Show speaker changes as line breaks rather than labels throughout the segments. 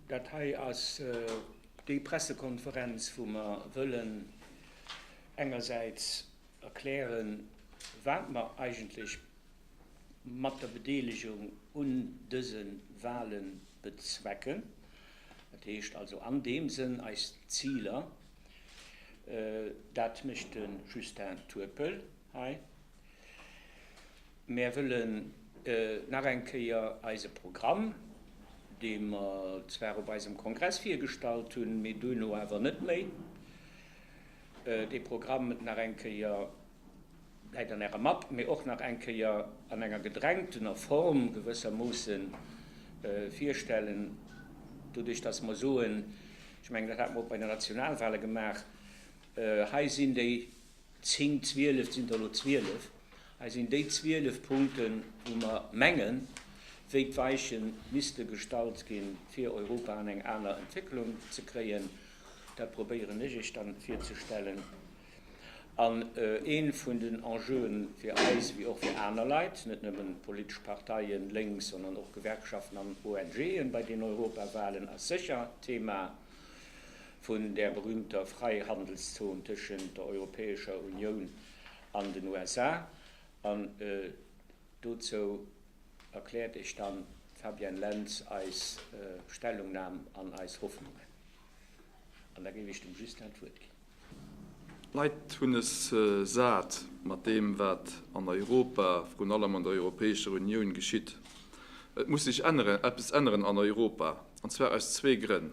Dat hei ass déi Pressekonferenz, wou mer wëllen engersäits erklären, wat mer eigentlech mat der Bedeelegung un dëse Wahle bezwecken, dat heescht also an deem Sënn eis Ziler. Dat mécht de Justin Turpel hei. Mär wëllen nach eng Kéier eise Programm, dee mer zwar op eisem Kongress virgestallt hunn, mee duerno awer net méi, dee Programm nach eng Kéier läit an Ärer Mapp, mee och nach eng Kéier an enger gedrängtener Form gewëssermoosse virstellen, doduerch datt mer soen, ech mengen, dat hate mer och bei de Nationalwale gemaach, Hei sinn déi Zéng, zwielef, et sinn der elo zwielef. Hei sinn déi zwielef Punkten, wou mer mengen, wéi d'Weiche misste gestallt ginn, fir Europa an eng aner Entwécklung ze kréien. Dat probéieren ech Iech dann virzestellen. An ee vun den Enjeuen fir eis, wéi och fir aner Leit, net nëmmen politesch Parteien, lénks, sondern och Gewerkschaften an ONGen, bei den Europawahlen ass sécher d'Thema, vun där berühmter Freihandelszon tëschent der Europäescher Unioun an den USA. An dozou erkläert Iech dann d'Fabienne Lentz eis Stellungnam an eis Hoffnungen. An da géif Ech dem Justin d'Wuert ginn.
D'Leit hunn es sat mat deem, wat an Europa, vrun allem an der Europäescher Unioun geschitt. Et muss sech änneren, eppes änneren an Europa, an zwar aus zwee Grënn.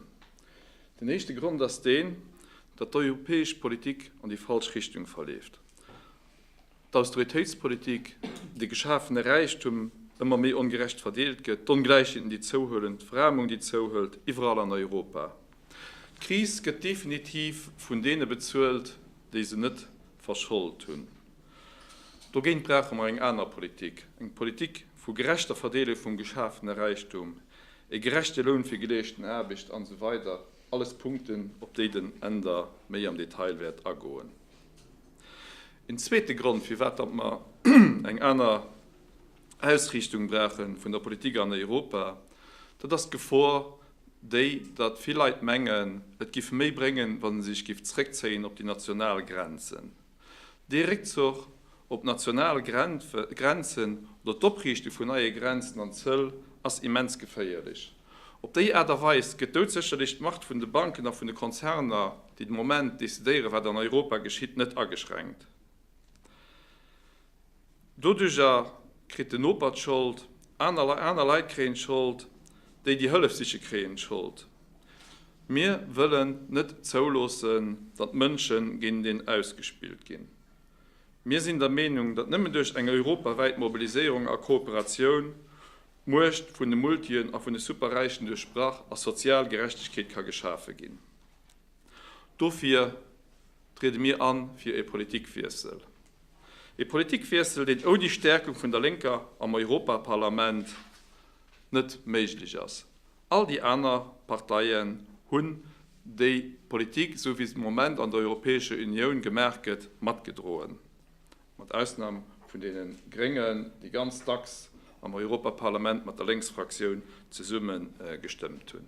Den éischte Grond ass deen, datt d'europäesch Politik an déi falsch Richtung verleeft. d'Austeritéitspolitik, de geschafene Räichtum ëmmer méi ongerecht verdeelt gëtt, d'Ongläichheeten, déi zouhuelen, d'Veräermung, déi zouhëlt, iwwerall an Europa. D'Kris gëtt definitiv vun deene bezuelt, déi se net verschold hunn. Dogéint brauche mer eng aner Politik, eng Politik vu gerechter Verdeelung vum geschafene Räichtum, e gerechte Loun fir geleeschten Aarbecht, an esou weider, alles Punkten, op déi den Änder méi am Detail wäert agoen. Een zweete Grond, firwat datt mer eng aner Ausriichtung brauche vun der Politik an Europa, dat ass d'Gefor déi, datt vill Leit mengen, et géif méi bréngen, wa se sech géif zréckzéien op déi national Grenzen. Dee Réckzuch op d'national Grenzen oder d'Opriichte vun neie Grenzen an Zöll ass immens geféierlech. Op déi Aart a Weis gëtt doudsécherlech d'Macht vun de Banken a vun de Konzerner, déi de Moment decidéieren, wat an Europa geschitt, net ageschränkt. Doduerjer kritt den Noper d'Schold, aner Leit kréien d'Schold, déi, déi Hëllef siche kréien d'Schold. Mir wëllen net zouloossen, datt Mënsche géint een ausgespillt ginn. Mir sinn der Meenung, datt nëmmen duerch eng europawäit Mobiliséierung a Kooperatioun D'Muecht vun de Multien a vun de Superräichen duerchbrach a sozial Gerechtegkeet ka geschafe ginn. Dofir triede mir a fir ee Politikwiessel. Ee Politikwiessel, deen ouni Stäerkung vun der Lénker am Europaparlament net méiglech ass. All déi aner Parteien hunn déi Politik, esou wéi se de Moment an der Europäescher Unioun gemaach gëtt, matgedroen. mat Ausnam vun deene Gréngen, déi ganz dacks am Europaparlament mat der Lénksfraktioun zesumme gestëmmt hunn.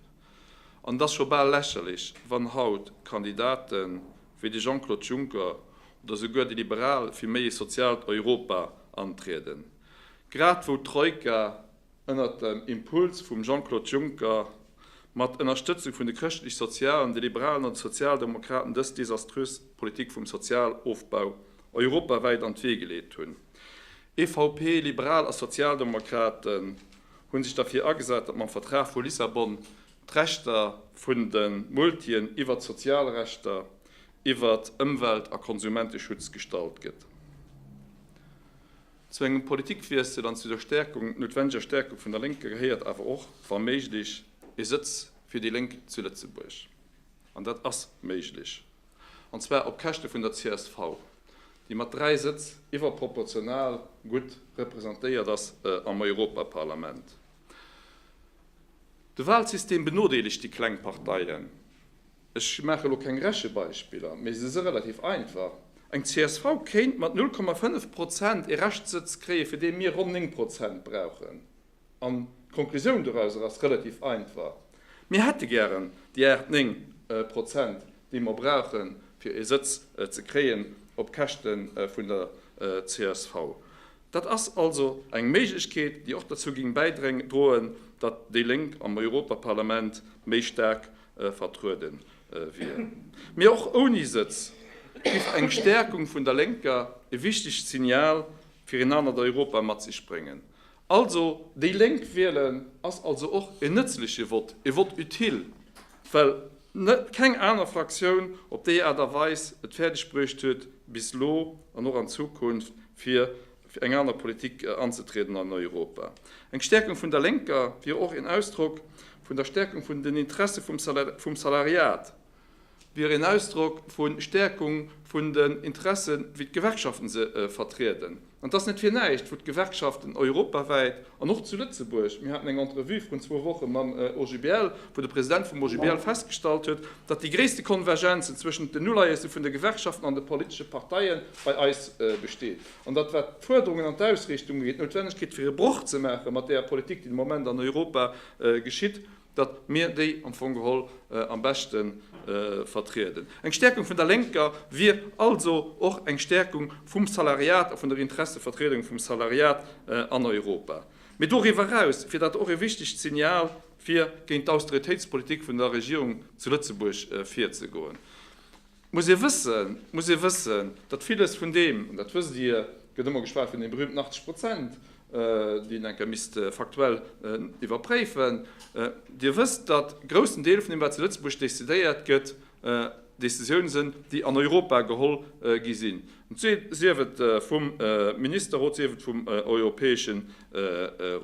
An et ass scho bal lächerlech, wann haut Kandidate wéi de Jean-Claude Juncker oder esouguer déi Liberal fir méi ee soziaalt Europa antrieden, grad wou d'Troika ënnert dem Impuls vum Jean-Claude Juncker, mat Ënnerstëtzung vun de Chrëschtlech-Sozialen, de Liberalen an de Sozialdemokraten dës desaströs Politik vum Sozialofbau europawäit an d'Wee geleet hunn. EVP, Liberal a Sozialdemokraten hu sech derfir agesat, datt mam Vertrag vu Lissabon d'Rechter vun de Multien iwwert d'Sozialrechter, iwwert Ëmwelt a Konsumenteschutz gestallt gëtt. Zu engem Politikwiessel an zu der Stärkung, noutwenneger Stärkung vun der Lénker gehéiert awer och, wa méiglech, ee Sëtz fir déi Lénk zu Lëtzebuerg. An dat ass méiglech. An zwar op Käschte vun der csv, déi mat dräi Sëtz iwwerproportional gutt representéiert ass am Europaparlament. De Wahlsystem benodeelegt déi kleng Parteien. Ech maache lo keng Rechebeispiller, mee se si relativ einfach. Eng csv kéint mat 0,5 Prozent ee Reschtsëtz kréie fir dee mir ronn 9 Prozent brauchen. An d'Conclusioun dorauser ass relativ einfach, mir hätte gären déi 8, 9 Prozent déi mer brauche fir ee Sëtz ze kréien op Käschte vun der csv. Dat ass also eng Méiglechkeet, déi och derzou géing bäidroen, datt déi Lénk am Europaparlament méi staark vertruede wier. Mee och ouni Sëtz giff eng Stäerkung vun der Lénker e wichtegt Signal fir een anert Europa mat sech bréngen. Also. Déi Lénk wielen ass also och en nëtzleche Vott, e Vott utile, well Net keng aner Fraktioun op déi Aart a Weis et fäerdeg bruecht huet, bis lo an och an Zukunft fir eng aner Politik anzetrieden an Europa. Eng Stäerkung vun der Lénker wier och een Ausdrock vun der Stäerkung vun den Interesse vum Salariat, wier een Ausdrock vu Stäerkung vun den Interesse wéi d'Gewerkschaften se vertrieden. An et ass net fir näischt, wou d'Gewerkschaften europawäit an och zu Lëtzebuerg, mir haten eng Entrevue vrun zwou Woche mam OGBL, wou de President vum OGBL festgestallt huet, datt déi gréisste Konvergenzen zwëschent den Uleiesse vun de Gewerkschaften an de politesche Parteie bei eis besteet. An datt, wat d'Fuerderungen an d'Ausrichtung ugeet, d'Noutwennegkeet fir e Broch ze maache mat där Politik, déi de Moment an Europa geschitt, datt mir déi am Fong geholl am beschte vertrieden. Eng Stäerkung vun der Lénker wier also och eng Stäerkung vum Salariat a vun der Interessevertriedung vum Salariat an Europa. Mee doriwwer eraus wier dat och e wichtegt Signal, fir géint d'Austeritéitspolitik vun der Regierung zu Lëtzebuerg virzegoen. Muss ee wëssen, muss ee wëssen, datt villes vun deem, an dat wësst Dir, et gëtt ëmmer geschwat vun deem berühmten 80 Prozent, déi een enk ka misst faktuell iwwerpréifen, Dir wësst, datt groussen Deel vun deem, wat zu Lëtzebuerg décidéiert gëtt, Décisioune sinn, déi an Europa geholl gi sinn, sief et vum Ministerrot, sief et vum Europäesche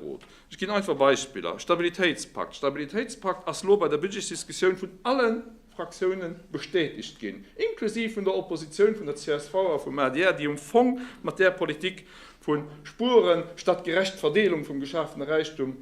Rot. Ech ginn einfach Beispiller, Stabilitéitspakt, Stabilitéitspakt ass elo bei der Budgetsdiskussioun vun allen Fraktiounen bestätegt ginn, inklusiv vun der Oppositioun, vun der csv a vum adr, déi um Fong mat där Politik vu Spueren statt gerecht Verdeelung vum geschafene Räichtum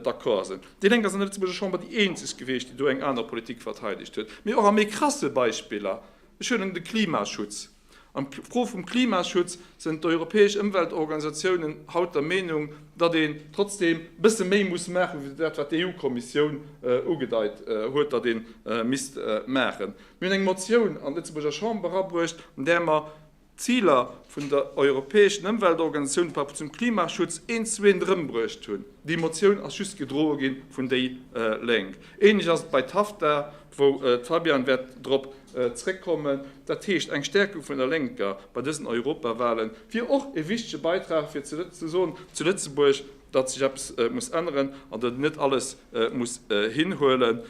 d'accord sinn. Déi Lénk ass an der Lëtzebuerger Chamber déi eenzeg gewiescht, déi do eng aner Politik verteidegt huet. Mee och a méi krasse Beispiller, ech huelen de Klimaschutz, An d'Fro vum Klimaschutz sënn d'europäesch Ëmweltorganisatiounen haut der Meenung, datt een trotzdeem bësse méi muss maachen, wéi dat wat d'EU-Kommissioun ugedeit huet, datt ee misst maachen. Mir hunn eng Motioun an d'Lëtzebuerger Chamber abruecht, an där mer d'Ziler vun der europäeschen Ëmweltorganisatioun par rapport zum Klimaschutz een zu een erëmbruecht hunn. Déi Motioun ass just gedroe gi vun déi Lénk. Ähnlech ass et bei TAFTA, wou d'Fabian wäert drop zréckkommen, dat heescht eng Stärkung vun der Lénker bei dësen Europawahlen, wier och e wichtege Beitrag fir ze soen zu Lëtzebuerg, datt sech eppes muss änneren an datt een net alles muss hinhuelen,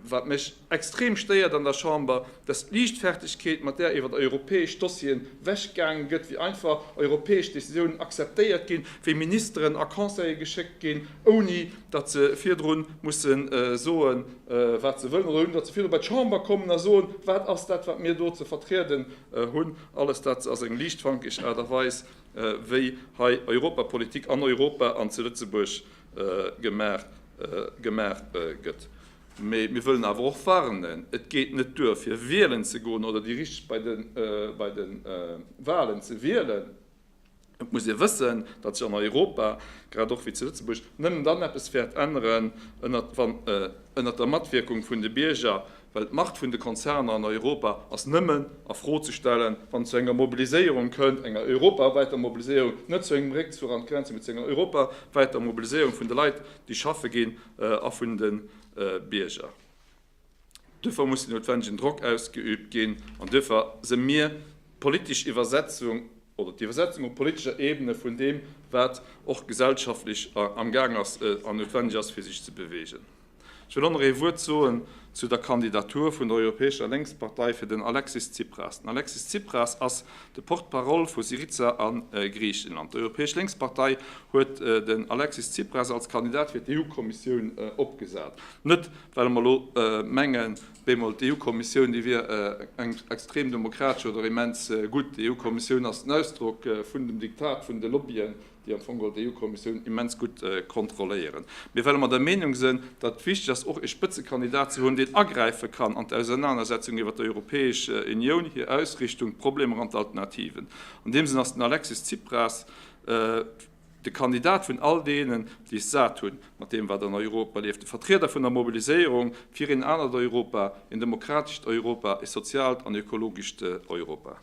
wat mech extrem stéiert an der Chamber, dass d'Liichtfertigkeet mat där iwwert europäesch Dossieren wechgaangen gëtt, wéi einfach europäesch Décisiounen akzeptéiert ginn, wéi Ministeren a Conseille geschéckt ginn, ouni datt se virdru musse soe wat se wëllen, oder hunn, datt se virdru bei d'Chamber kommen a soen, wat ass dat wat mir do ze vertrieden hunn. Alles dat ass eng liichtfankeg Aart a Weis wéi hei Europapolitik an Europa an zu Lëtzebuerg gemaach gëtt. Mee mir wëllen awer och warnen, et geet net duer fir wielen ze goen oder déi richteg bei de Walen ze wielen, Et muss ee wëssen, datt sech an Europa, grad och wéi zu Lëtzebuerg, nëmmen dann eppes wäert änneren, wann ënnert der Matwierkung vun de Bierger, well d'Macht vun de Konzerner an Europa ass nëmmen a Fro ze stellen, wann et zu enger Mobiliséierung kënnt, enger europawäiter Mobiliséierung, net zu engem Réckzuch an d'Grenzen, mee zu enger europawäiter Mobiliséierung vun de Leit, déi schaffe ginn, a vun de Bierger. Duerfir muss den noutwendegen Drock ausgeübt ginn an duerfir si mir d'politesch Iwwersetzung oder d'Iwwersetzung op politescher Ebene vun deem, wat och gesellschaftlech amgaang ass an noutwendeg ass, fir sech ze beweegen. Ech wëll och nach ee Wuert soen zu der Kandidatur vun der Europäescher Lénkspartei fir den Alexis Tsipras. Den Alexis Tsipras ass de Porte-parole vu Syriza a Griichenland. D'Europäesch Lénkspartei huet den Alexis Tsipras als Kandidat fir d'EU-Kommissioun opgesat, net Well mer elo mengen, bemol d'EU-Kommissioun, déi wier eng extrem demokratesch oder immens gutt. D'EU-Kommissioun ass den Ausdrock vun dem Diktat vun de Lobbyen, déi am Fong d'EU-Kommissioun immens gutt kontrolléieren. Mee well mer der Meenung sinn, datt et wichteg ass, och ee Spëtzekandidat ze hunn, deen agräife kann an d'Ausernanersetzung iwwert d'Europäesch Unioun, hir Ausrichtung, d'Problemer an d'Alternativen. An deem Sënn ass den Alexis Tsipras, De Kandidat vun all deenen, déi es sat hunn, mat deem wat an Europa leeft, de Vertrieder vun der Mobiliséierung fir een anert Europa, een demokratescht Europa, ee soziaalt an ökologescht Europa.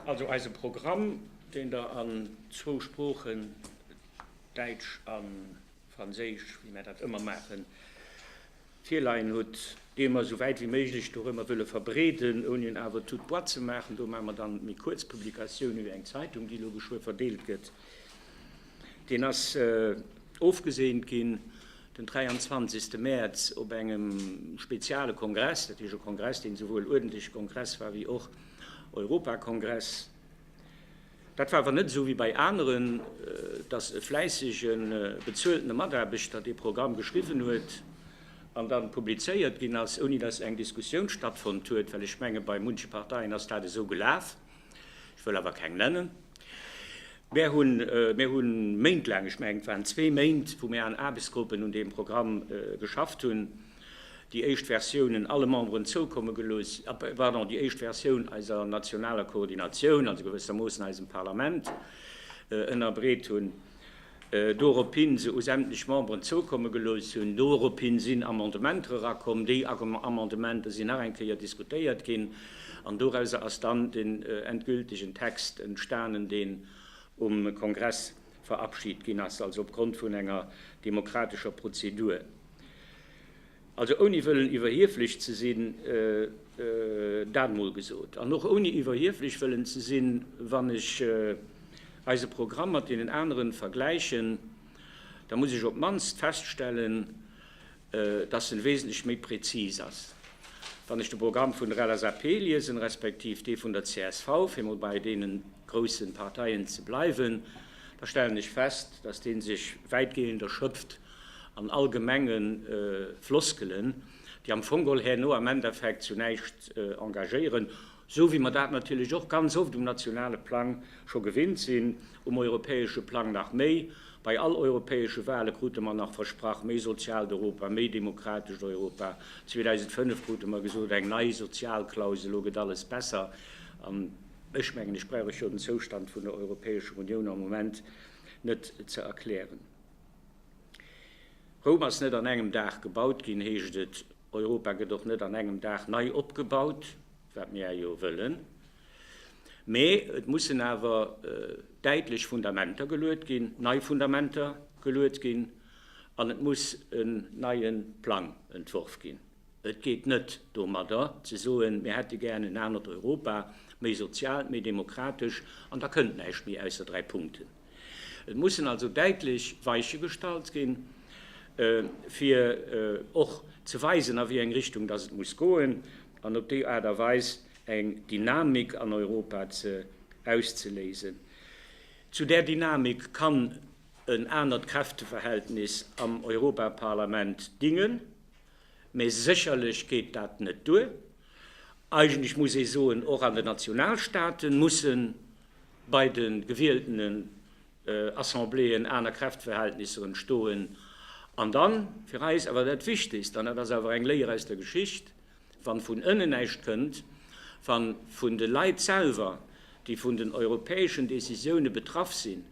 Also eise Programm, deen Der an zwou Sproochen, Däitsch an. Franséisch, wéi mär dat ëmmer maachen, virleien hutt, dee mer esou wäit wéi méiglech dorëmmer wëlle verbreeden, ouni en awer tout de bois ze maachen. Do maache mer dann méi kuerz Publikatiounen, wéi eng Zeitung, déi elo geschwë verdeelt gëtt. Deen ass ofgeseent ginn den 23. Mäerz op engem speziale Kongress, dat heescht e Kongress, deen esouwuel uerdentlech Kongress war wéi och Europakongress. Dat war awer net esou wéi bei aneren, dass e fläissege bezueltene Mataarbechter dee Programm geschriwwen huet an dann publizéiert ginn ass, ouni dass eng Diskussioun stattfonnt huet, well ech menge bei munche Parteien ass dat esou gelaf, ech wëll awer keng nennen. Mär hunn, mär hu méintlaang, ech menge et waren zwee Méint, wou mär an Aarbechtsgruppen un deem Programm geschafft hunn. déi éischt Versiounen alle Memberen zoukomme gelooss, pardon, déi éischt Versioun eiser nationaler Koordinatioun, also gewëssermoossen eisem Parlament, ënnerbreet hunn, dorophin se u sämtlech Memberen zoukomme gelooss hunn. Dorophin sinn Amendementer erakomm, déi Amendementer sinn nach eng Kéier diskutéiert ginn an dorauser ass dann den endgültigen Text entstanen, deen um Kongress verabschid ginn ass, also opgrond vun enger demokratescher Prozedur. Also ouni wëllen iwwerhieflech ze sinn, dat mol gesot, an och ouni iwwerhieflech wëllen ze sinn, wann ech eise Programm mat deenen aneren vergläichen, da muss ech op d'mannst feststellen, dass en wesentlech méi prezis ass. Wann ech de Programm vun der LSAP liesen, respektiv dee vun der csv, fir mol bei deene grousse Parteien ze bleiwen, da stellen ech fest, dass dee sech wäitgehend erschöpft, an allgemenge Floskelen, déi am Fong geholl herno am Endeffekt zu näischt engagéieren, esou wéi mer dat natierlech och ganz oft um nationale Plang scho gewinnt sinn, um europäesche Plang nach méi. Bei all europäesche Wahle krute mer nach versprach, méi soziaalt Europa, méi demokratescht Europa. 2005 krute mer gesot, eng nei Sozialklausel, elo gëtt alles besser. An ech mengen, ech brauch lech jo den Zoustand vun der Europäescher Unioun am Moment net ze erklären. Roum ass net an engem Dag gebaut ginn, heescht et. Europa gëtt och net an engem Dag nei opgebaut, wat mir awer jo wëllen. Mee et mussen awer däitlech Fundamenter geluet ginn, nei Fundamenter geluet ginn an et muss en neie Plang entworf ginn. Et geet net domadder ze soen, mir hätte gär en anert Europa, méi sozial, méi demokratesch, an da kënnt näischt méi ausser dräi Punkten. Et mussen also däitlech Weiche gestallt ginn, fir och ze weisen, a wéi eng Richtung dass et muss goen, an op déi Aart a Weis eng Dynamik an Europa ze auszeléisen. Zu där Dynamik kann en anert Kräfteverhältnis am Europaparlament dingen, mä sécherlech geet dat net duer. Eigentlech muss ee soen, och an den Nationalstaate mussen Bei de gewieltenen Assembléeën aner Kräftverhältnisser entstoen. An dann, fir eis awer dat Wichtegst, an dat ass awer eng Léier aus der Geschicht, Wann vun ënnen näischt kënnt, wann vun de Leit selwer, déi vun den europäeschen Décisioune betraff sinn,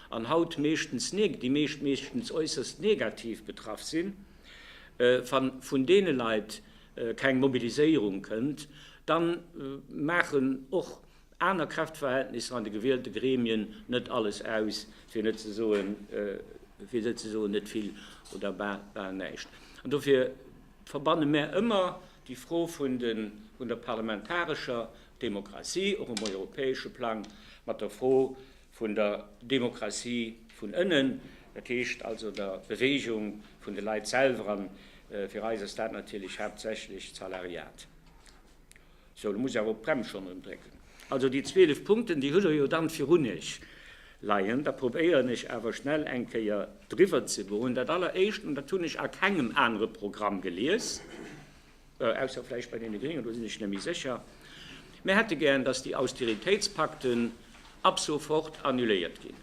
an haut meeschtens, déi meescht meeschtens äusserst negativ betraff sinn, wann vun deene Leit keng Mobiliséierung kënnt, dann maachen och aner Kräftverhältnisser an de gewielte Gremien net alles aus, fir net ze soen, fir net ze soen, net vill oder bal, bal näischt. An dofir verbanne mär ëmmer déi Fro vun de, vun der parlamentarescher Demokratie, och um europäesche Plang, mat der Fro vun der Demokratie vun ënnen, dat heescht also der Beweegung vun de Leit selwer. An fir eis ass dat natierlech haaptsächlech d'Salariat. Sou, do muss ech awer op d'Brems schonn erëm drécken. Also déi 12 Punkten, déi hutt Der jo dann virun Iech leien. Da probéieren ech awer schnell eng Kéier driwwer ze goen. Dat Alleréischt, an dat hunn ech a kengem anere Programm gelies, ausser vläicht bei deene Gréngen, do sinn ech net méi sécher, Mir hätte gären, datt déi Austeritéitspakten ab sofort annuléiert ginn.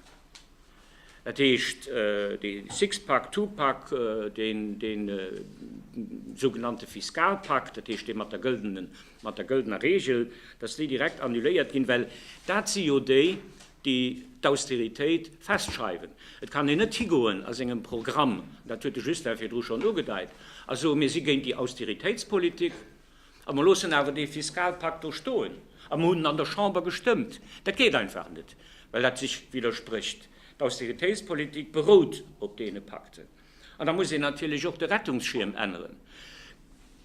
Dat heescht, dee Six-pack, Two-pack, dee sougenannte Fiskalpakt, dat heescht dee mat der gëldene, mat der gëldener Reegel, datt déi direkt annuléiert ginn, well dat si jo déi, déi d'Austeritéit festschreiwen. Et kann een net higoen a sengem Programm, dat huet de Justin virdru schonn ugedeit, a soen, mir si géint déi Austeritéitspolitik, A mer loossen awer dee Fiskalpakt do stoen a mer hunn en an der Chamber gestëmmt. Dat geet einfach net, well dat sech widdersprécht. D'Austeritéitspolitik berout op deene Pakten. An da muss een natierlech och de Rettungsschierm änneren.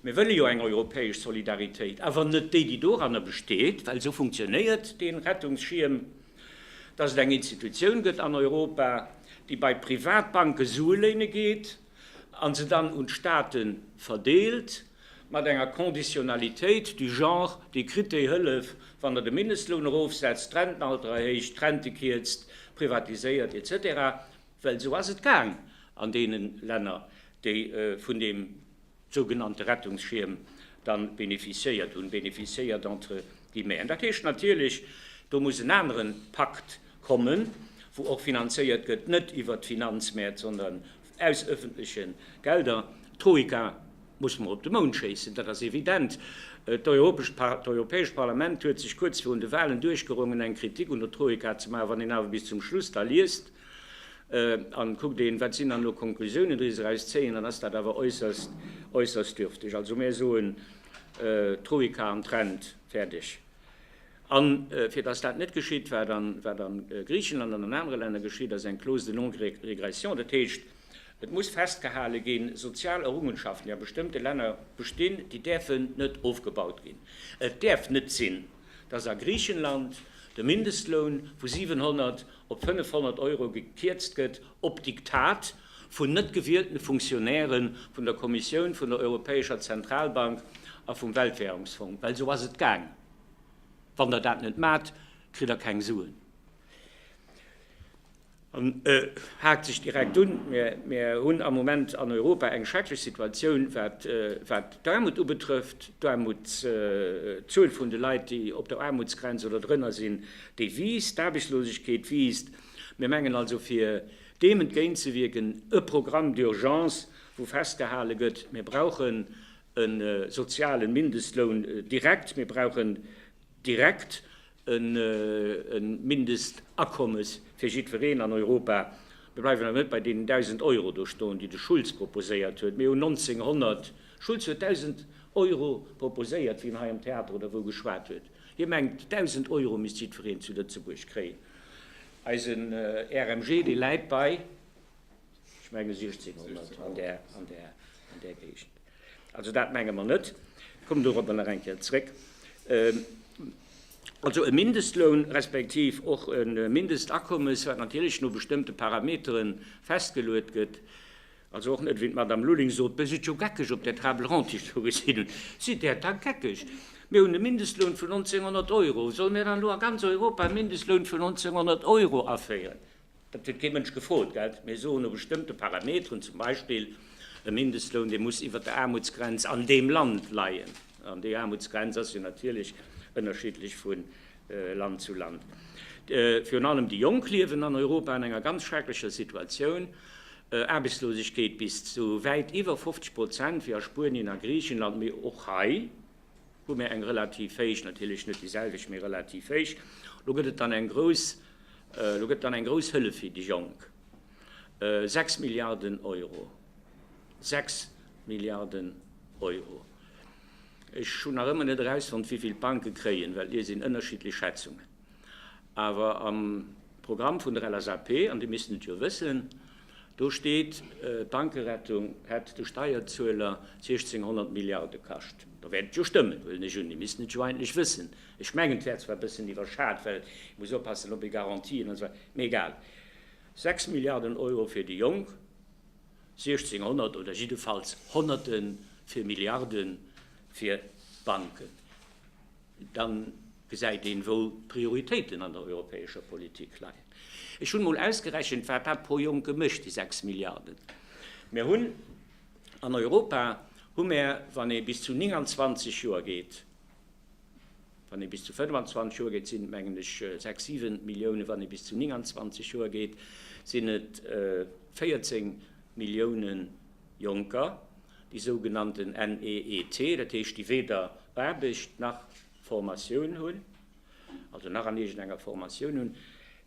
Mir wëlle jo eng europäesch Solidaritéit, awer net déi, déi doranner besteet, well esou funktionéiert dee Rettungsschierm, dass et eng Institutioun gëtt an Europa, déi bei Privatbanke Sue léine geet, an se dann un d'Staate verdeelt, mat enger Conditionnalitéit du genre, Dir kritt déi Hëllef, wann Der de Mindestloun erofsetzt, d'Rentenalter erhéicht, d'Rente kierzt, privatiséiert, etc. Well esou ass et gaang an deene Länner, déi vun deem. sougenannte Rettungsschierm dann bénéficiéiert hunn, bénéficiéiert entre guillemets. An dat heescht natierlech, do muss en anere Pakt kommen, wou och finanzéiert gëtt, net iwwert d'Finanzmäert, sondern aus öffentliche Gelder. D'Troika muss mer op de Mound schéissen, dat ass evident. D'Europäescht Parlament huet sech kuerz virun de Wahlen duerchgerongen, eng Kritik un der Troika ze maachen, wann een awer bis zum Schluss da liest, An kuckt een, wat sinn dann elo Konklusiounen, déi se eraus zéien, dann ass dat awer äusserst, äusserst dürfteg. Also mir soen, Troika an Trend, fäerdeg. A fir dass dat net geschitt, wat an, wat a Griichenland an an anere Länner geschitt ass, eng Clause de non-régression, dat heescht, et muss festgehale ginn, sozial Errungenschaften, déi a bestëmmte Länner bestinn, déi däerfen net ofgebaut ginn. Et däerf net sinn, dass a Griichenland de Mindestloun vu 700 op 500 Euro gekierzt gëtt, op Diktat vun net gewielten Funktionäre vun der Kommissioun, vun der Europäescher Zentralbank a vum Weltwährungsfong, well esou ass et gaang, wann Der dat net maacht, kritt Der keng Suen. An et haakt sech direkt un, Mir hunn am Moment an Europa eng schrecklech Situatioun, wat d'Aarmut ubetrëfft. D'Zuel vun de Leit, déi op der Aarmutsgrenz oder drënner sinn, Déi wiisst, d'Aarbechtslosegkeet wiisst. Mir mengen also, fir deem entgéintzewierken, e Programme d'urgence, wou festgehale gëtt, mir brauchen e soziale Mindestloun direkt, mir brauchen direkt e Mindestakommes fir jiddwereen an Europa. Mir bleiwen awer net bei deenen 1.000 Euro do stoen, déi de Schulz proposéiert huet. Mir hunn 1900, Schulz huet 1.000 Euro proposéiert, wéi en hei am Theater oder wou geschwat huet. Hie mengt, 1.000 Euro misst jiddwereen zu Lëtzebuerg kréien. Eisen RMG, dee läit bei, ech menge 1.600, an där, an där, an där Géigend. Also dat menge mer net. Ech kommen dorobber nach eng Kéier zréck. Also e Mindestloun, respektiv och e Mindestakommes, wat natierlech no bestëmmte Parametere festgeluet gëtt, Also och net, wéi d'Madame Lulling sot, Mir sidd jo geckeg op där Table ronde, déi ech do gesinn hunn. Sidd Der da geckeg? Mir hunn e Mindestloun vun 1.900 Euro. Solle mir dann elo a ganz Europa e Mindestloun vun 1.900 Euro aféieren? Dat huet kee Mënsch gefrot, gell? Mir soen, no bestëmmte Parameteren, zum Beispill e Mindestloun, dee muss iwwert der Aarmutsgrenz an deem Land leien. An déi Aarmutsgrenz ass jo natierlech ënnerschiddlech vu Land zu Land. Virun allem déi Jonk liewen an Europa an enger ganz schrecklecher Situatioun, Aarbechtslosegkeet bis zu wäit iwwer 50 Prozent, wéi a Spuenien a Griichenland. Mee och hei hu mir eng relativ héich, natierlech net déi selwecht, mee relativ héich. Lo gëtt et dann eng grouss, lo gëtt dann eng grouss Hëllef fir déi Jonk, 6 Milliarden Euro, 6 Milliarden Euro. Ech hunn nach ëmmer net erausfonnt, wivill d'Banke kréien, well do sinn ënnerschiddlech Schätzungen. Awer am Programm vun der LSAP, an Dir misst et jo wëssen, do steet, d'Bankerettung hätt de Steierzueler 1.600 Milliarde kascht. Da wäert et jo stëmmen, huelen ech un. Dir misst et jo eigentlech wëssen. Ech mengen, et wär zwar e bëssen iwwerschat, well ee muss oppassen, ob ee Garantien an esou weider, mee egal. Sechs Milliarden Euro fir déi Jonk, 1600 oder jiddefalls Honnerte fir Milliarde fir d'Banken, da gesäit een, wou d'Prioritéiten an der europäescher Politik leien. Ech hunn emol ausgerechent, wat dat pro Jong gemécht, déi 6 Milliarden. Mir hunn an Europa, hu mir, wann ee bis zu 29 Joer geet, Wann ee bis zu 25 Joer geet, sinn et mengen ech sechs, siwen Milliounen, wann ee bis zu 29 Joer geet, sinn et 14 Milliounen Jonker, déi sougenannten NEET, dat heescht, déi weder Aarbecht nach Formatioun hunn, also nach an iergendenger Formatioun hunn,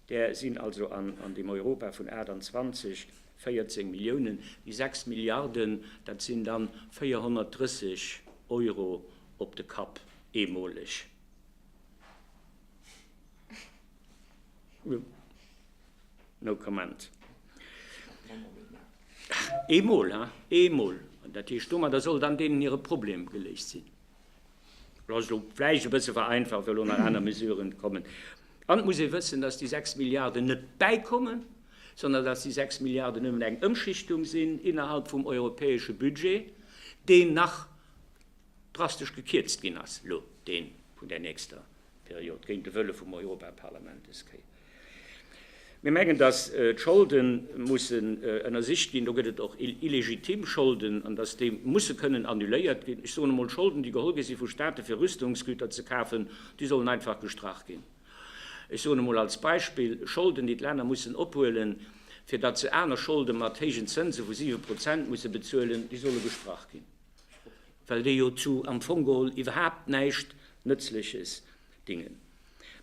där sinn also an deem Europa vun 28 14 Milliounen, déi 6 Milliarden, dat sinn da 430 Euro op de Kapp eemoleg. No comment. Eemol, hein, eemol. Dat heescht, domadder soll dann deenen hire Problem geléist sinn. Lass ech elo vläicht e bësse vereinfacht, well elo nach aner Mesuren kommen. An et muss ee wëssen, dass déi 6 Milliarden net bäikommen, sondern dass déi 6 Milliarden nëmmen eng Ëmschichtung sinn innerhalb vum europäesche Budget, deen nach drastesch gekierzt ginn ass elo, dee vun där nächster Period géint de Wëlle vum Europaparlament des Kéier. Mir mengen, dass d'Scholde mussen ënnersicht ginn. Do gëtt et och illegitim Scholden, an dass déi musse kënnen annuléiert ginn. Ech soen emol, Scholden, déi geholl gi si vu State fir Rüstungsgüter ze kafen, déi sollen einfach gestrach ginn. Ech soen emol als Beispill, Scholden, déi d'Länner mussen ophuelen, fir datt se aner Scholde mat héijen Zënse vu siwe Prozent musse bezuelen, déi solle gestrach ginn. well déi jo zu am Fong geholl iwwerhaapt näischt Nëtzleches dingen.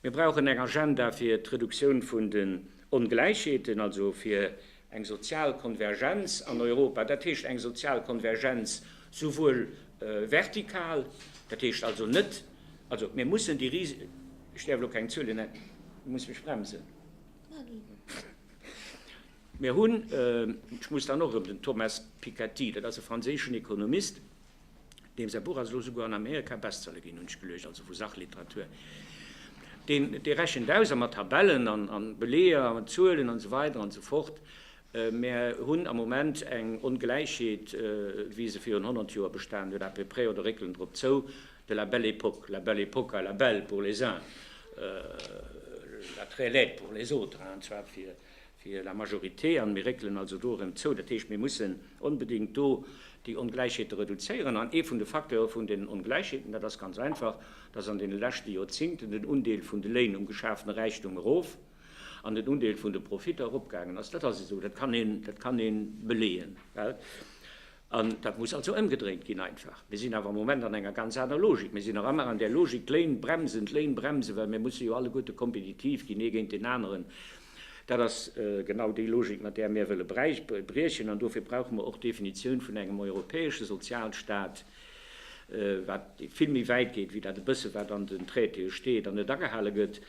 Mir brauchen eng Agenda fir d'Reduktioun vun den Ongläichheeten, also fir eng sozial Konvergenz an Europa, dat heescht eng sozial Konvergenz souwuel vertikal, dat heescht also net, also mir mussen déi ris, ech däerf elo keng Zuele nennen, ech muss mech bremsen. Mir hunn, ech muss dann och erëm den Thomas Piketty, dat ass e franséischen Ekonomist, deem säi Buch ass elo souguer an Amerika Bestseller ginn, hunn ech geluecht, also vu Sachliteratur, deen, dee rechent aus, a mat Tabellen a Beleeër an Zuelen an esou weider an esou fort, Mir hunn am Moment eng Ongläichheet, wéi se virun honnert Joer bestanen huet, à peu près, oder réckelen drop zou, de la Belle Époque, la belle époque, la belle pour les uns, la très laide pour les autres, an zwar fir fir la majorité an mir réckelen also do erëm zou. Dat heescht, mir mussen onbedéngt do déi Ongläichheete reduzéieren an ee vun de Facteure vun deenen Ongläichheeten, dat ass ganz einfach, dass an deene leschte Joerzingten den Undeel vun de Léin um geschafene Räichtum erof an den Undeel vun de Profitter eropgaangen ass. Dat ass esou, dat kann een beleeën. An dat muss also ëmgedréint ginn einfach. Mir sinn awer am Moment an enger ganz aner Logik. Mir sinn nach ëmmer an där Logik, d'Léin bremsen, d'Léin bremsen, well mir musse jo alleguerte kompetitiv ginn, ee géint deen aneren. Dat ass genau déi Logik, mat där mir wëlle briechen. An dofir brauche mer och d'Definitioun vun engem europäesche Sozialstaat, wat vill méi wäit geet wéi dat e bësse wat an den Traitéë steet an net agehale gëtt.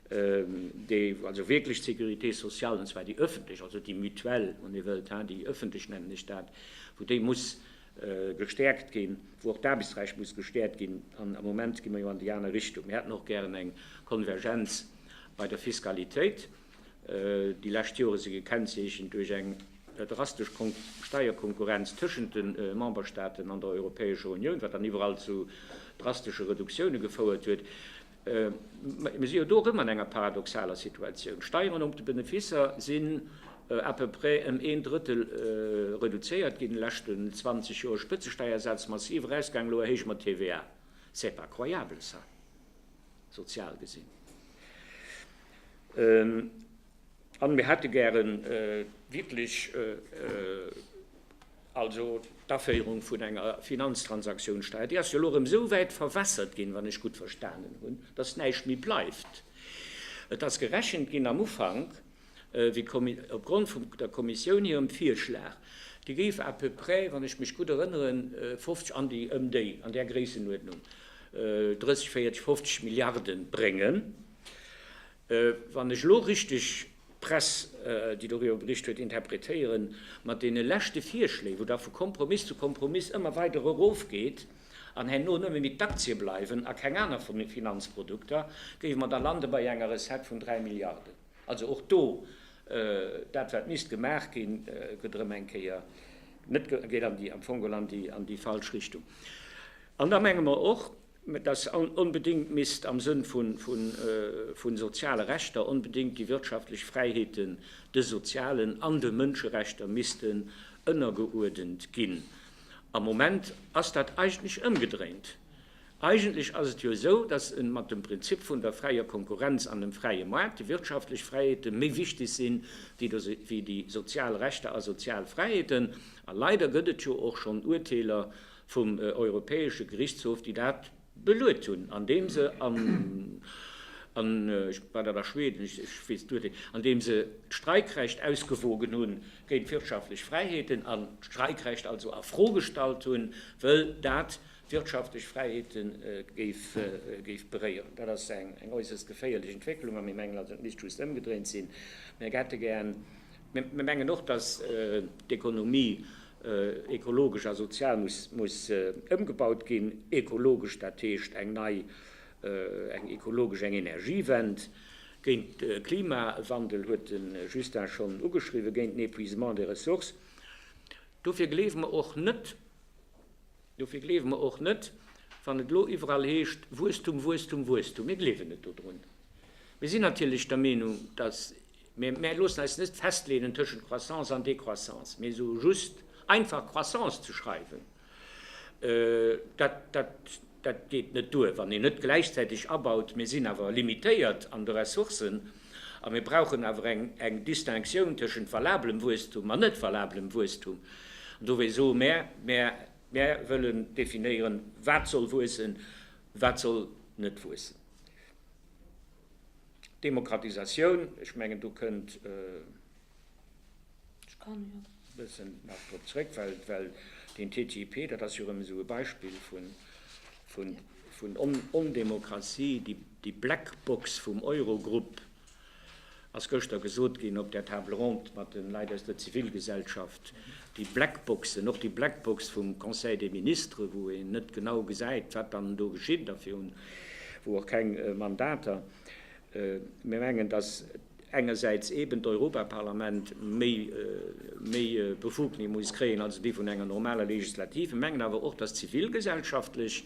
déi also wierklech d'Sécurité sociale, an zwar déi öffentlech, also déi Mutuelle, wann Dir wëllt, déi öffentlech nennen ech dat, wou déi muss gestärkt ginn, wou och d'Aarbechtsrecht muss gestärkt ginn, an am Moment gi mer jo an déi aner Richtung. Mir hätten och gären eng Konvergenz bei der Fiskalitéit. Déi lescht Jore si gekennzeechent duerch eng drastesch Steierkonkurrenz tëschent de Memberstaaten an der Europäescher Unioun, wat dann iwwerall zu drastesche Reduktioune gefouert huet. Mä mir si jo do erëm an enger paradoxaler Situatioun. D'Steieren op de Beneficer sinn à peu près ëm een Drëttel reduzéiert ginn an de leschten 20 Joer, Spëtzesteiersätz massiv erausgaangen, elo erhéije mer d'TVA. C'est pas croyable ça, sozial gesinn. An mir hätte gären wierklech also d'Aféierung vun enger Finanztransaktionssteuer. Déi ass jo elo erëm esou wäit verwässert ginn, wann ech gutt verstanen hunn, dass näischt méi bleift. Et ass gerechent ginn am Ufank, wéi opgrond vum der Kommissioun hirem Virschlag, déi géif à peu près, wann ech mech gutt erënneren, 50, an déi, ëm déi, an där Gréissenuerdnung 30, 40, 50 Milliarden bréngen. wann ech elo richteg d'Press, déi doriwwer bericht huet, interpretéieren, mat deene leschte Virschléi, wou da vu Kompromiss zu Kompromiss ëmmer weider erofgeet an herno nëmme méi d'Aktie bleiwen a keng aner Finanzprodukter, géife mer da lande bei enger Recette vun 3 Milliarden. Also och do, dat wat misst gemaach ginn, gëtt erëm eng Kéier net, geet am Fong geholl an déi falsch Richtung. An da menge mer och, dass onbedéngt misst am Sënn vu soziale Rechter onbedéngt déi wirtschaftlech Fräiheeten de sozialen an de Mënscherechter missten ënnergeuerdent ginn. Am Moment ass dat eigentlech ëmgedréint. Eigentlech ass et jo esou, dass mat dem Prinzip vun der fräier Konkurrenz an dem fräie Maart déi wirtschaftlech Fräiheete méi wichteg sinn, wéi déi sozial Rechter a sozial Fräiheeten. A leider gëtt et jo och schonn Uerteeler, vum Europäesche Gerichtshof, déi dat beluet hunn, andeem se an, an ech, war dat a Schweden? Ech, ech weess et duerfir, andeem se d'Streikrecht ausgewogen hunn géint d'wirtschaftlech Fräiheeten an d'Streikrecht also a Fro gestallt hunn, wëll dat d'wirtschaftlech Fräiheete géif, géif beréieren. Dat ass eng, eng äusserst geféierlech Entwécklung a mir mengen also, et misst just ëmgedréint sinn. Mir hätte gär Mir mengen och, dass d'Ekonomie ekologesch a sozial muss ëmgebaut ginn. Ekologesch, dat heescht eng nei, eng ekologesch, eng Energiewend, géint de Klimawandel, huet de Justin schonn ugeschriwwen, géint den Épuisement des ressources. Dofir gleewe mer och net, dofir gleewe mer och net, wann et elo iwwerall heescht, Wuesstum, Wuesstum, Wuesstum, mir gleewen net dodrun. Mir sinn natierlech der Meenung, dass, Mee mär loossen eis net festleenen tëschent Croissance an Décroissance, mee esou just einfach Croissance ze schreiwen, dat, dat, dat geet net duer, wann een net gläichzäiteg abaut, mir sinn awer limitéiert an de Ressourcen a mir brauchen awer eng, eng Distinctioun tëschent valablem Wuesstum an net valablem Wuesstum. An dowéi soe mär, mär, mär wëllen definéieren, wat soll wuessen, wat soll net wuessen. Demokratisatioun, ech mengen do kënnt e bëssen nach drop zrëck, well den TTIP, dat ass jo erëm esou e Beispill vun Ondemokratie, déi Black Box vum Eurogrupp, ass gëschter gesot ginn op där Table ronde mat de Leit aus der Zivilgesellschaft, déi Black Boxen, och déi Black Box vum Conseil des Ministres, wou een net genau gesäit, wat dann do geschitt a virun wou och keng Mandater, mir mengen, datt engersäits eeben d'Europaparlament méi méi Befugnisse muss kréien, also déi vun enger normaler Legislative, mir mengen awer och, datt zivilgesellschaftlech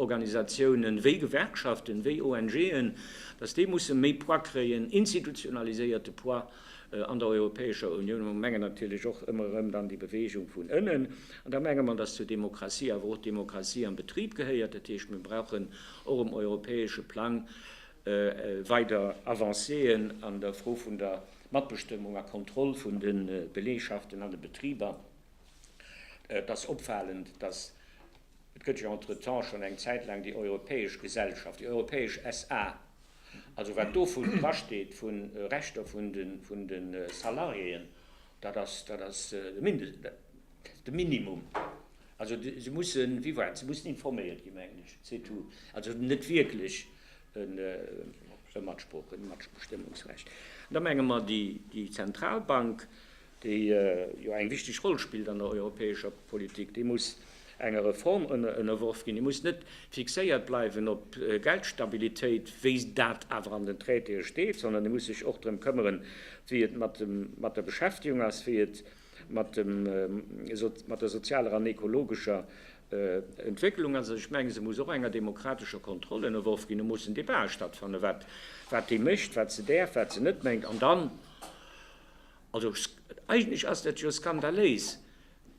Organisatiounen, wéi Gewerkschaften, wéi ONGen, datt déi musse méi Poids kréien, institutionaliséierte Poids. An der Europäescher Unioun hu Mengen natierlech och ëmmer erëm dann déi Beweegung vun ënnen. An da menge mer, dass zur Demokratie awer och d'Demokratie am Betrib gehéiert. Dat heescht, mir brauchen och um europäesche Plang weider Avancéen an der Fro vun der Matbestëmmung a Kontroll vun de Belegschaften an de Betriber. Et ass opfalend, dass, et gëtt jo entretemps schonn eng Zäit laang déi europäesch Gesellschaft, déi europäesch SA. Also wat do drasteet vu Rechter vun de Salariéen, dat ass de Minimum. Also se mussen, wéi war et, se mussen informéiert ginn, mengen ech, c'est tout. Also net wierklech e Matsprooch, e Matbestëmmungsrecht. Da menge mer, déi Zentralbank déi jo eng wichteg Roll spillt an der europäescher Politik, déi muss enger Reform ënnerworf ginn, déi muss net fixéiert bleiwen op Geldstabilitéit, wéi dat awer an den Traitéë steet, sondern déi muss sech och drëm këmmeren, wéi et mat der Beschäftigung ass, wéi et mat der sozialer an ekologescher Entwécklung ass. Ech menge se muss och enger demokratescher Kontroll ënnerworf ginn. Do mussen Debatë stattfannen, wat déi mécht, wat se däerf, wat se net mécht. An dann Also eigentlech ass dat jo skandaléis,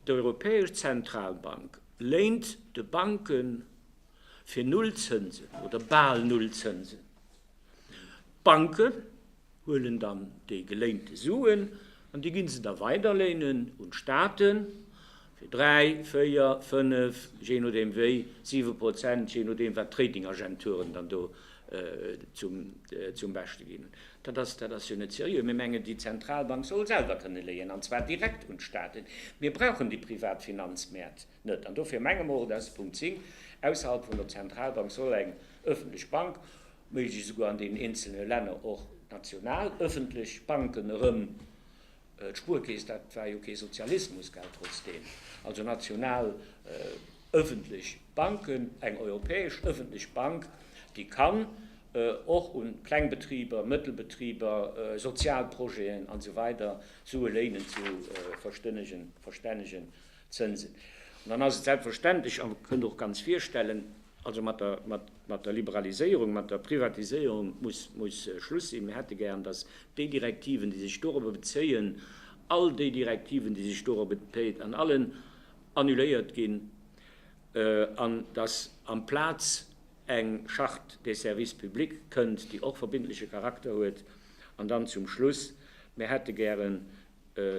d'Europäesch Zentralbank léint de Banke fir Null Zënsen oder bal Null Zënsen. D'Banke huelen dann déi geléinte Suen an déi gi se da weiderléinen un d'Staaten Fir dräi, véier, fënnef, jee nodeem wéi, siwe Prozent, jee nodeem wat d'Ratingagenturen dann do zum Beschte ginn. Dat ass, dat ass jo net seriö. Mir mengen, déi Zentralbank soll selwer kënne léien, an zwar direkt un d'Staaten. Mir brauchen déi privat Finanzmäert net. An dofir menge mer och, dass Punkt 10, ausserhalb vun der Zentralbank soll eng öffentlech Bank, méiglechst esouguer an deenen eenzelne Länner och national öffentlech Banken erëm, D'Spuerkeess, dat war jo kee Sozialismus, gell, trotzdeem. Also national ëffentlech Banken, eng europäesch ëffentlech Bank, déi kann och un kleng Betriber, mëttel Betriber, sozial Projeten an esou weider Sue léinen zu verstännegen Zënsen. An dann ass et selbstverständlech, a kënnt och ganz virstellen, also mat der, mat der Liberaliséierung, mat der Privatiséierung muss, muss Schluss sinn. Mir hätte gären, dass déi Direktiven, déi sech dorobber bezéien, all déi Direktiven, déi sech dorobber bezéien, an allen annuléiert ginn, an dass amplaz eng Charte des services publics kënnt, déi och verbindleche Charakter huet. An dann zum Schluss, Mir hätte gären,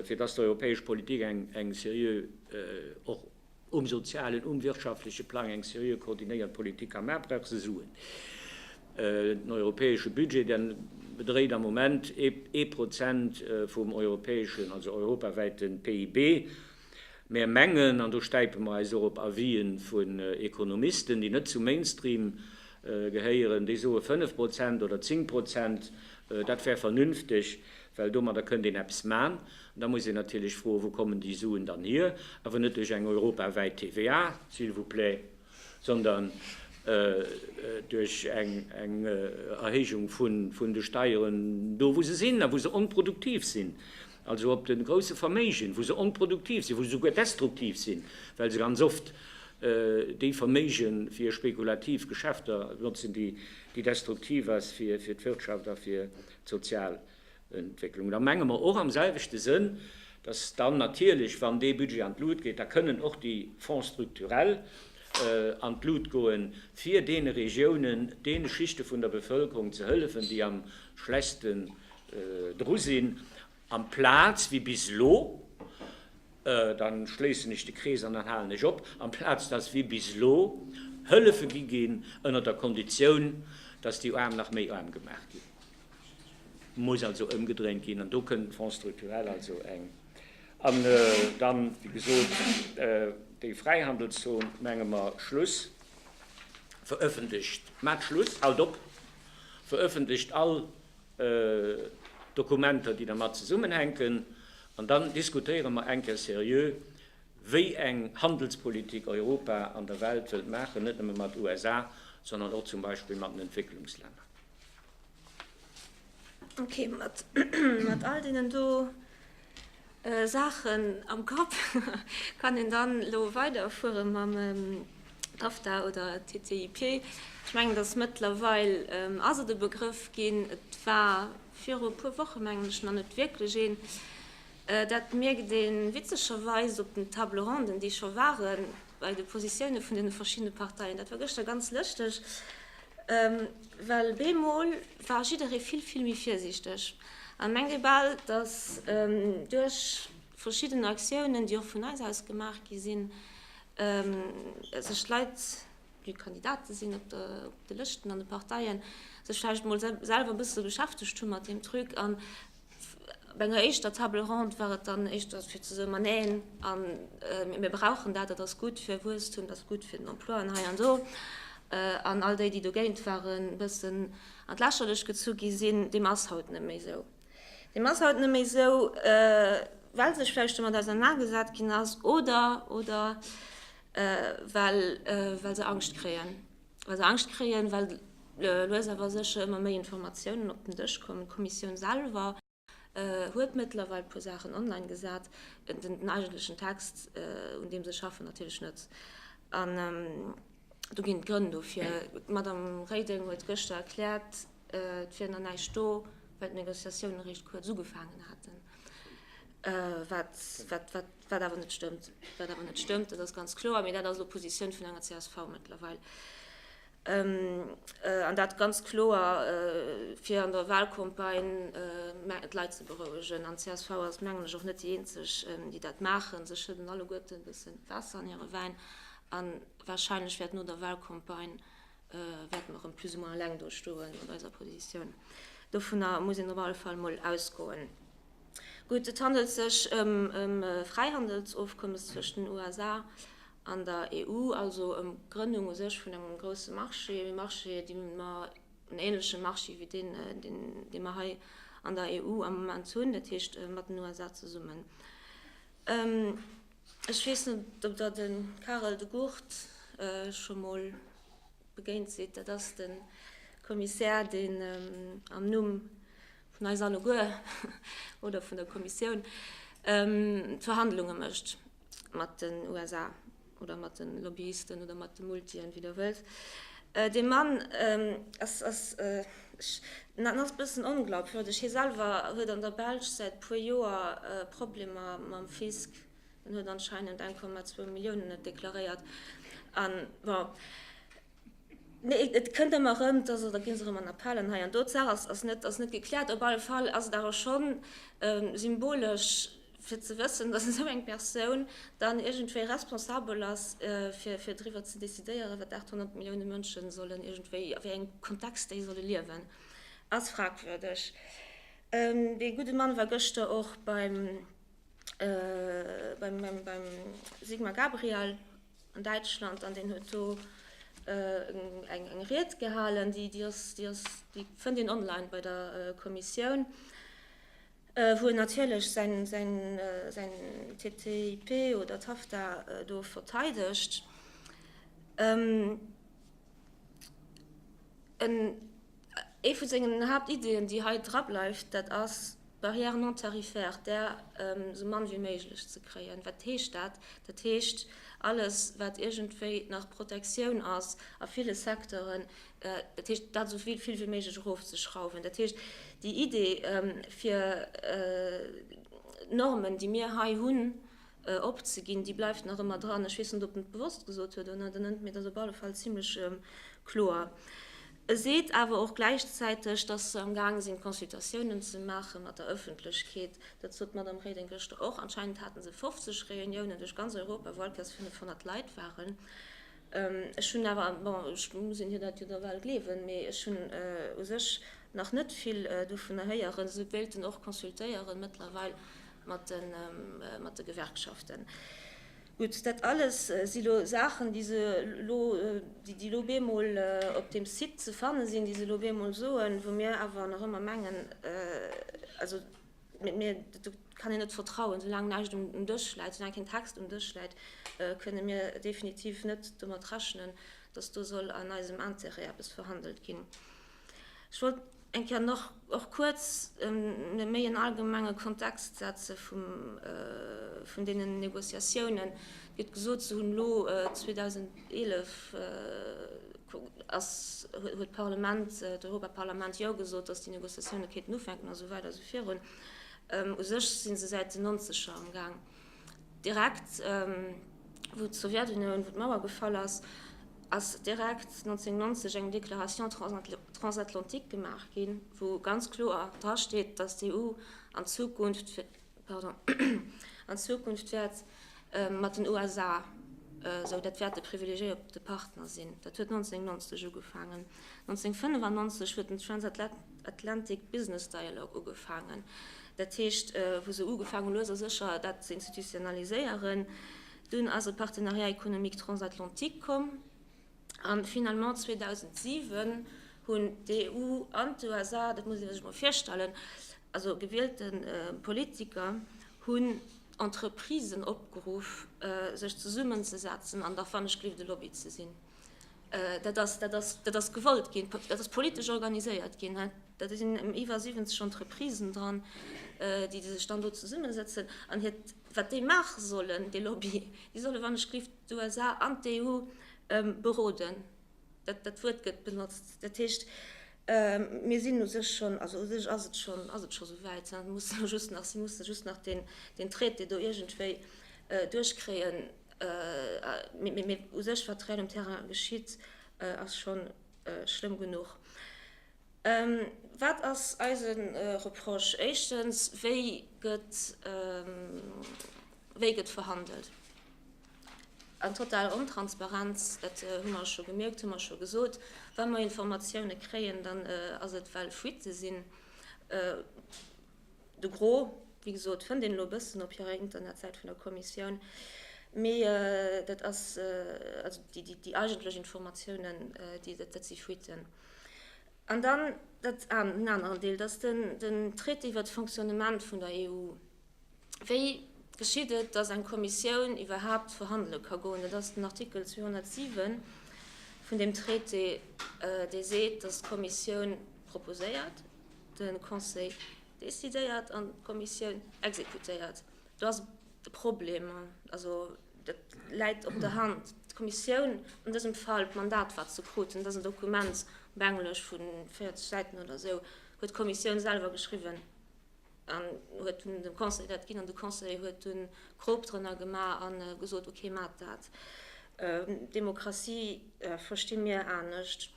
fir dass d'europäesch Politik eng seriö, och um sozialen, um wirtschaftleche Plang, eng seriö koordinéiert Politik ka maachen, brauch se Suen. Den europäesche Budget, dee bedréit am Moment ee Prozent vum europäeschen, also europawäite PIB. Mär mengen, an do stäipe mer eis och op Avisen vun Ekonomisten, déi net zum Mainstream gehéieren, déi soe 5 Prozent oder 10 Prozent, dat wär vernünfteg, well domadder kënnt een eppes man. An da muss een natierlech froen, wou kommen déi Suen dann hier? Awer net duerch eng europawäit TVA, s'il vous plaît. sondern duerch eng Erhéijung vun de Steieren do, wou se sinn a wou se onproduktiv sinn, also op de grouse Verméigen, wou se onproduktiv sinn, wou se souguer destruktiv sinn, well se ganz oft déi Verméige fir spekulativ Geschäfter notzen, déi destruktiv ass fir d'Wirtschaft a fir d'Sozial. Entwécklung. Da menge mer och am selwechte Sënn, dass dann natierlech, wann dee Budget an d'Lut geet, da kënnen och déi Fonds structurels an d'Lut goen, fir deene Regiounen, deene Schichte vun der Bevëlkerung ze hëllefen, déi am schlechtste dru sinn, amplaz wéi bis elo, da schléissen ech de Krees an dann halen ech op, amplaz dass wéi bis elo Hëllefe gi ginn ënner der Konditioun, dass déi Aarm nach méi aarm gemaach ginn. Muss also ëmgedréint ginn an do kënnt de Fonds structurel also eng. An dann, wéi gesot, déi Fräihandelszon, menge mer, Schluss, verëffentlecht, maacht Schluss, haalt op, verëffentlecht all Dokumenter, déi dermat zesummenhänken an dann diskutéiere mer eng Kéier seriö, wéi eng Handelspolitik Europa an der Welt wëllt maachen, net nëmme mat USA, sondern och zum Beispill mat den Entwécklungslänner.
Ok, mat mat all deenen do Saachen am Kapp kann een dann elo weiderfuere mam TAFTA oder TTIP. Ech mengen, dass mëttlerweil ass et e Begrëff ginn, et war viru e puer Woche mengen ech nach net wierklech een. Dat mierkt ee witzegerweis op den Table ronden, déi scho waren. bei de Positioune vun deene verschiddene Parteien. Dat war gëschter ganz lëschteg, well bemol war jidderee vill, vill méi virsiichteg a mengt ee bal, datt duerch verschidden Aktiounen, déi och vun eis aus gemaach gi sinn, sech d'Leit, déi Kandidate sinn op de Lëschten an de Parteien, sech vläicht emol selwer e bësse beschäftegt hu mat deem Truc. Bei enger éischter Table ronde war et dann éischter fir ze soen, ma neen, mir brauchen dat, dat ass gutt fir Wuesstum, dat ass gutt fir den Emploi an hei an do. An all déi, déi dogéint waren, e bëssen an d'Lächerlecht gezu gi sinn, deem ass haut net méi esou. Deem ass haut net méi esou, well sech vläicht domat ausernagesat ginn ass oder, oder well, well se Angscht kréien. Also Angscht kréien, well lues awer sécher ëmmer méi Informatiounen op den Dësch kommen. D'Kommissioun selwer huet mëttlerweil e puer Saachen online gesat, den eigentlechen Text, un deem se schaffen, natierlech net. An do ginn d'Grënn dofir. D'Madame Reding huet gëschter erkläert, et wier nach näischt do, well d'Negociatiounen eréischt kuerz ugefaangen haten, wat Wat awer net stëmmt. Wat awer net stëmmt, dat ass ganz kloer. Mee dat ass elo d'Positioun vun enger csv mëttlerweil. An dat ganz kloer, fir an der Wahlcampagne d'Leit ze berouegen. An d'CSV ass, mengen ech, och net déi eenzeg, déi dat maachen. Se schëdden alleguerte e bësse Waasser an hire Wäin. A warscheinlech wäert no der Wahlcampagne, wäerte mer erëm plus ou moins eleng do stoe mat eiser Positioun. Dovunner muss een op alle Fall emol ausgoen. Gutt, et handelt sech ëm e Fräihandelsofkommes zwëscht den USA an der EU, also ëm d'Grënnung u sech vun engem grousse Marché, e Marché, dee mer, en änleche Marché wéi deen, dee mer hei an der EU am Moment hunn, dat heescht mat den USA zesummen. Ech weess net, ob Der de Karel De Gucht scho mol begéint sidd. Dat ass de Kommissär, deen am Numm. vun eis alleguer oder vun der Kommissioun, d'Verhandlunge mécht mat den USA oder mat de Lobbyisten oder mat de Multien, wéi Der wëllt. Dee Mann ass, ass, ech, en ass e bëssen onglaubwürdig. Hie selwer huet an der Belsch säit e puer Joer Problemer mam Fisc. En huet anscheinend 1,2 Milliounen net deklaréiert. An, bon, Nee, et kënnt ëmmer erëm, also da gi se erëm an Appellen hei an do. D'Saach ass net ass net gekläert. Op alle Fall ass et awer schonn symbolesch, fir ze wëssen, datt esou eng Persoun dann iergendwéi responsabel ass, fir fir driwwer ze decidéieren, wat 800 Millioune Mënsche sollen iergendwéi, a wéi engem Kontext déi solle liewen, ass fragwürdeg. Dee gudde Mann war gëschter och beim beim beim Sigmar Gabriel. an Däitschland an deen huet do eng Ried gehalen, déi fënnt een online bei der Kommissioun, wou en natierlech säin TTIP oder TAFTA do verteidegt. Ee vu sengen Haaptiddien, déi hei drableift, dat ass d'Barrière non tarifaire, där esou mann wéi méiglech ze kréien. Wat heescht dat? Dat heescht, alles, wat iergendwéi nach Protektioun ass a ville Secteuren, dat heescht, dat esou vill wéi méiglech erofzeschrauwen. Dat heescht, déi Idee, fir d'Normen, déi mir hei hunn, opzeginn, déi bleift nach ëmmer dran. Ech weess net, ob en et bewosst gesot huet oder net, en ënnt mir dat op alle Fall zimlech kloer. E seet awer och gläichzäiteg, datt se am gaange sinn, Consultatiounen ze maache mat der Ëffentlechkeet. Dat sot d'Madame Reding gëschter och. Anscheinend hate se 50 Reuniounen duerch ganz Europa, well d'Place 500 Leit waren. Ech hunn awer, bon, ech muss een hir dat jo da bal gleewen, mee ech hunn u sech nach net vill dovunner héieren. Se wéilten och consultéieren mëttlerweil. mat de Gewerkschaften. Gutt, dat alles si lo Saachen, déi se lo, déi lo bemol op deem Site ze fanne sinn, déi se lo bemol soen, wou mir awer nach ëmmer mengen, also mir, do kann een net vertrauen, soulaang näischt um Dësch läit, soulaang keen Text um Dësch läit, kënne mir definitiv net domat rechnen, datt do soll an eisem Intérêt eppes verhandelt ginn. Ech wollt. Eng Kéier nach och kuerz e méi en allgemenge Kontext setze vun deenen Négociatiounen. Et gëtt gesot, se hunn elo 2011 ass, huet d'Parlament, d'Europaparlament Jo gesot, datt déi Négociatioune kéinten ufänken a sou weider a sou virun. U sech si se säit den Nonzeger am Gaang. Direkt wou d'Sowjetunioun, wou d'Mauer gefall ass, ass direkt 1990 eng Déclaration transatlantique gemaach ginn, wou ganz kloer dra steet, datt d'EU an Zukunft, pardon, an Zukunft wäert mat den USA, esou dat wäert de privilegiéierte Partner sinn. Dat huet 1990 ugefaangen. 1995 huet den Transatla. Atlantic Business Dialogue ugefaangen, dat heescht wou se ugefaangen hunn lues a sécher dat ze institutionaliséieren. Dunn ass e Partenariat économique transatlantique komm an finalement 2007 hunn d'EU an d'USA, dat muss ee sech mol virstellen, also gewiellte Politiker hunn Entreprisen opgeruff sech zesummenzesetzen an da fanneg gelift e Lobby ze sinn. Dat ass, dat ass, dat ass gewollt ginn, dat ass politesch organiséiert ginn. Da sinn iwwer 70 Entreprisen dran, déi sech dann do zesummesetzen an hiert, wat déi maache sollen, dee Lobby, déi solle wann ech géif d'USA an d'EU beroden, dat dat Wuert gëtt benotzt. Dat heescht, mir sinn u sech schonn, also u sech ass et schonn, ass et scho souwäit, se musse just nach, se musse just nach deen Traité do iergendwéi duerchkréien. Mee u sech, wat réel um Terrain geschitt, ass scho schlëmm genuch. Wat ass eise Reproche? Éischtens, Wéi gëtt verhandelt? Eng total Ontransparenz, dat hu mer scho gemierkt, hu mer scho gesot. Wa mer Informatioune kréien, dann ass et, well Fuitte sinn. De Gros, wéi gesot, fënnt een elo e bëssen op hirer Internetsäit vun der Kommissioun, mee dat ass, also déi eigentlech Informatiounen, dat si Fuitten. An dann dat, den aneren Deel, dat ass den Traité iwwert d'Fonctionnement vun der EU. Wéi geschitt et, datt eng Kommissioun iwwerhaapt verhandele ka goen? Dat ass den Artikel 207 vun deem Traité, dee seet, datt d'Kommissioun proposéiert, De Conseil decidéiert an d'Kommissioun exekutéiert. Do ass de Problem, also dat läit op der Hand, d'Kommissioun, an dësem Fall d'Mandat, wat se krut, dat ass en Dokument op Englesch vu 40 Säiten oder esou, huet d'Kommissioun selwer geschriwwen an huet dunn dem Conseil dat ginn. An de Conseil huet dunn d'Prob drënner gemaach a gesot, okay, maacht dat. Demokratie versti mir anescht.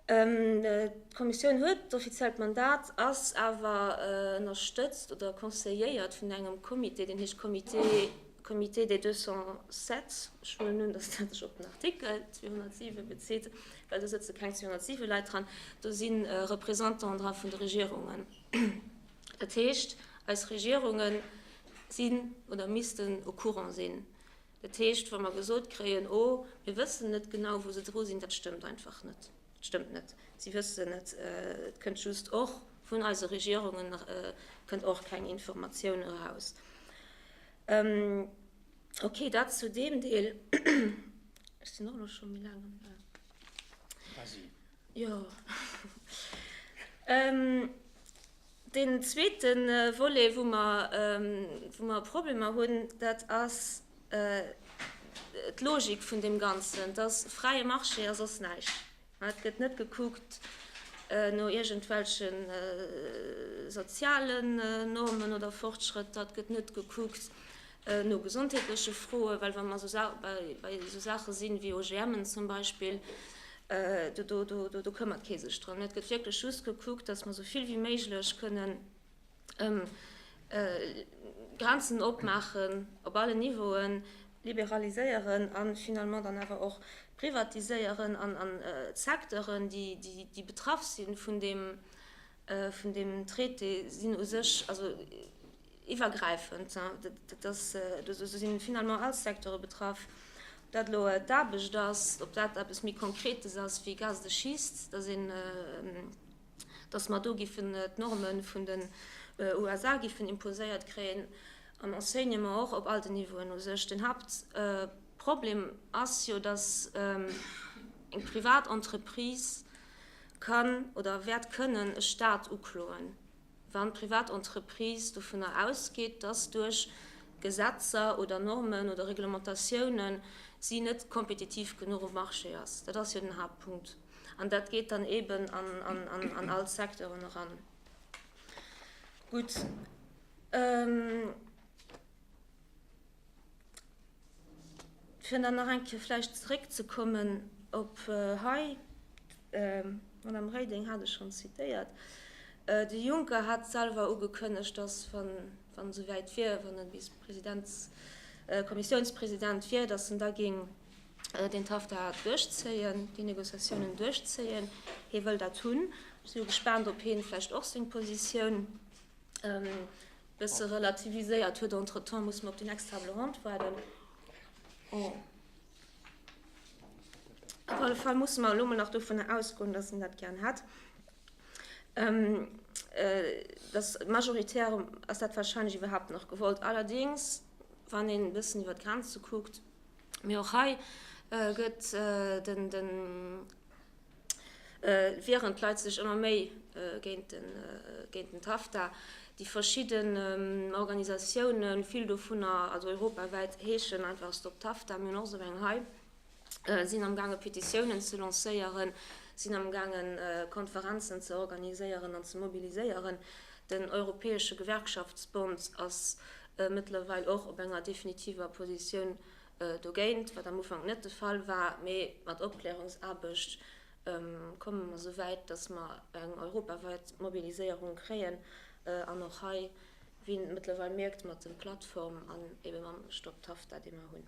D'Kommissioun huet d'offiziellt Mandat, ass awer ënnerstëtzt oder conseilléiert vun engem Comité, deen heescht Comité, Comité des 207, ech huelen un, dass dat sech op den Artikel 207 bezitt, well do sëtze keng 207 Leit dran, do si Représentanten dra vun de Regierungen. Dat heescht, eis Regierunge sinn oder missten au courant sinn. Dat heescht, wa mer gesot kréien, oh, mir wëssen net genau, wou se dru sinn, dat stëmmt einfach net. Dat stëmmt net. Si wëssen et, et kënnt just och vun eise Regierungen kënnt och keng Informatioun eraus. Okay, dat zu deem Deel. Ech sinn och elo scho méi laang am Saz. Quasi. Jo. Deen zweete Volet, wou mer, wou mer Problemer hunn, dat ass d'Logik vun deem Ganzen. Et ass fräie Marché a soss näischt. Et gëtt net gekuckt no iergendwelche sozialen Normen oder Fortschrëtter, et gëtt net gekuckt no gesondheetleche Froen, well wa mer bei esou Saache sinn, wéi OGMen zum Beispill, do këmmert kee sech drëm. Et gëtt wierklech just gekuckt, datt mer esou vill wéi méiglech kënnen Grenzen opmaachen op allen Niveauen, liberaliséieren a finalement dann awer och privatiséieren an Secteuren, déi betraff si vun deem vun deem Traité sinn u sech also iwwergräifend, dat ass, do sinn finalement all d'Secteure betraff. Ob dat elo d'Aarbecht ass, ob dat eppes méi Konkretes ass wéi Gaz de Schist, dass een, dass mer do giffen d'Norme vun den USA giffen imposéiert kréien, am Enseignement och op all den Niveauen u sech. Den Hauptproblem ass jo, dass eng privat Entreprise, kann oder wäert kënnen e Staat ukloen, wann d'privat Entreprise dovunner ausgeet, dass duerch Gesetzer oder Normen oder Reglementatiounen si net kompetitiv genuch um Marché ass. Dat ass jo den Haaptpunkt. An dat geet dann eeben an all d'Secteuren eran. Gutt. Fir dann nach eng Kéier vläicht zeréckzekommen op hei, d'Madame Reding hat et schonn zitéiert, de Juncker hat selwer ugekënnegt, datt, wann wann esou wäit wier, wann e bis Presidents Kommissiounspresident wier, datt en da géing deen TAFTA duerchzéien, déi Négociatiounen duerchzéien. Hie wëll dat hunn. Ech si jo gespaant, ob hien vläicht och seng Positioun Bësse relativiséiert huet. Entretemps muss mer op déi next Table ronde waarden. Oh. Op alle Fall musse mer elo mol nach dovunner ausgoen, dass en dat gären hätt. Ähm, äh, dass majoritär ass dat wahrscheinlech iwwerhaupt nach gewollt. Allerdéngs, wann een e bëssen iwwer d'Grenze kuckt, mee och hei, äh, gëtt, äh, den, den, Wierend d'Leit sech ëmmer méi géint den TAFTA, déi verschidden Organisatiounen, vill dovunner, also europawäit, heeschen einfach Stop TAFTA, mir hunn och esou eng hei, sinn am gaange Petitiounen ze lancéieren, sinn am gaangen Konferenzen ze organiséieren an ze mobiliséieren. Den europäesche Gewerkschaftsbond ass mëttlerweil och op enger definitiver Positioun Dogéint, wat am Ufank net de Fall war, mee mat Opklärungsaarbecht komme mer esou wäit, datt mer eng europawäit Mobiliséierung kréien an och hei, wéi een et mëttlerweil mierkt mat de Plattformen an ebe mam Stop TAFTA, dee mer hunn.